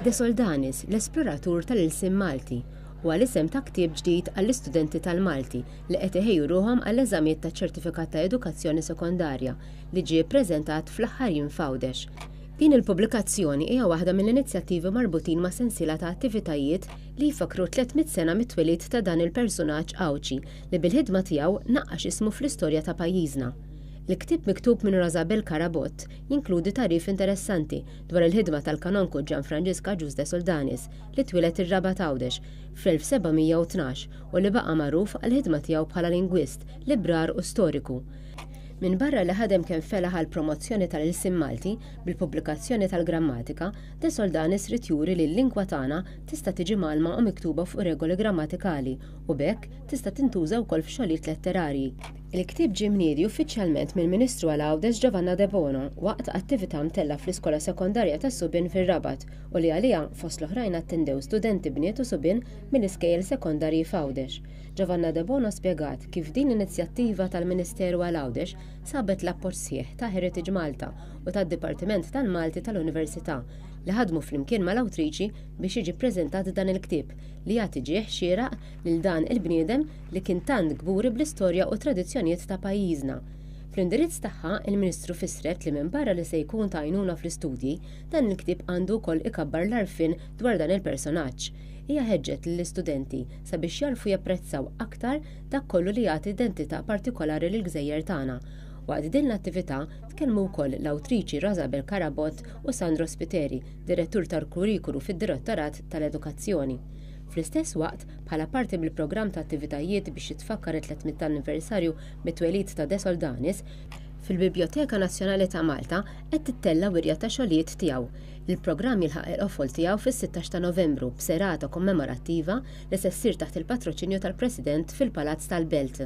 De Soldanis, l-esploratur tal-ilsien Malti, huwa l-isem ta' ktieb ġdid għall-istudenti tal-Malti li qed iħejju ruħhom għall-eżamijiet taċ-Ċertifikat ta' Edukazzjoni Sekondarja li ġie ppreżentat fl-aħħar jiem f'Għawdex. Din il-pubblikazzjoni hija waħda mill-inizjattivi marbutin ma' sensiela ta' attivitajiet li jfakkru tlett mitt sena mit-twelid ta' dan il-persunaġġ Għawdxi li bil-ħidma tiegħu naqqax ismu fl-istorja ta' pajjiżna. Il-ktieb miktub minn Rosabel Carabott jinkludi tagħrif interessanti dwar il-ħidma tal-Kanonku Ġan Franġiska Ġuż de Soldanis li twieled ir-Raba' t'Għawdex fl-1712 u li baqa' magħruf għall-ħidma tiegħu bħala lingwist, librar u storiku. Minbarra li ħadem kemm felaħ għall-promozzjoni tal-ilsien Malti bil-pubblikazzjoni tal-grammatika, de Soldanis ried juri li l-lingwa tagħna tista' tiġi mgħallma u miktuba fuq regoli grammatikali u b'hekk tista' tintuża wkoll f'xogħlijiet letterarji. Il-ktieb ġie mniedi uffiċjalment mill-Ministru għal Għawdex Giovanna Debono waqt attività mtellgħa fl-Iskola Sekondarja tas-Subien fir-Rabat u li għaliha fost l-oħrajn attendew studenti bniet u subien mill-iskejjel sekondarji f'Għawdex. Giovanna Debono spjegat kif din l-inizjattiva tal-Ministeru għal Għawdex sabet l-appoġġ sħiħ ta' Heritage Malta u tad-Dipartiment tal-Malti tal-Università li ħadmu flimkien mal-awtriċi biex jiġi ppreżentat dan il-ktieb li jagħti ġieħ xieraq lil dan il-bniedem li kien tant kburi bl-istorja u t-tradizzjonijiet ta' pajjiżna. Fl-indirizz tagħha, il-Ministru fissret li minbarra li se jkun ta' għajnuna fl-istudji, dan il-ktieb għandu wkoll ikabbar l-għarfien dwar dan il-personaġġ. Hija ħeġġet lill-istudenti sabiex jagħrfu japprezzaw aktar dak kollu li jagħti identità partikolari lill-gżejjer tagħna. Waqt din l-attività, tkellmu wkoll l-awtriċi Rosabel Carabott u Sandro Spiteri, Direttur tal-Kurrikulu fid-Direttorat tal-Edukazzjoni. Fl-istess waqt, Bħala parti mill-programm ta' attivitajiet biex jitfakkar it-300 anniversarju mit-twelid ta' De Soldanis, fil-Bibljoteka Nazzjonali ta' Malta qed tittella' wirja ta' xogħlijiet tiegħu. Il-programm jilħaq il-qofol tiegħu fis-sittax ta' Novembru b'serata kommemorattiva li se ssir taħt il-patroċinju tal-President fil-Palazz tal-Belt.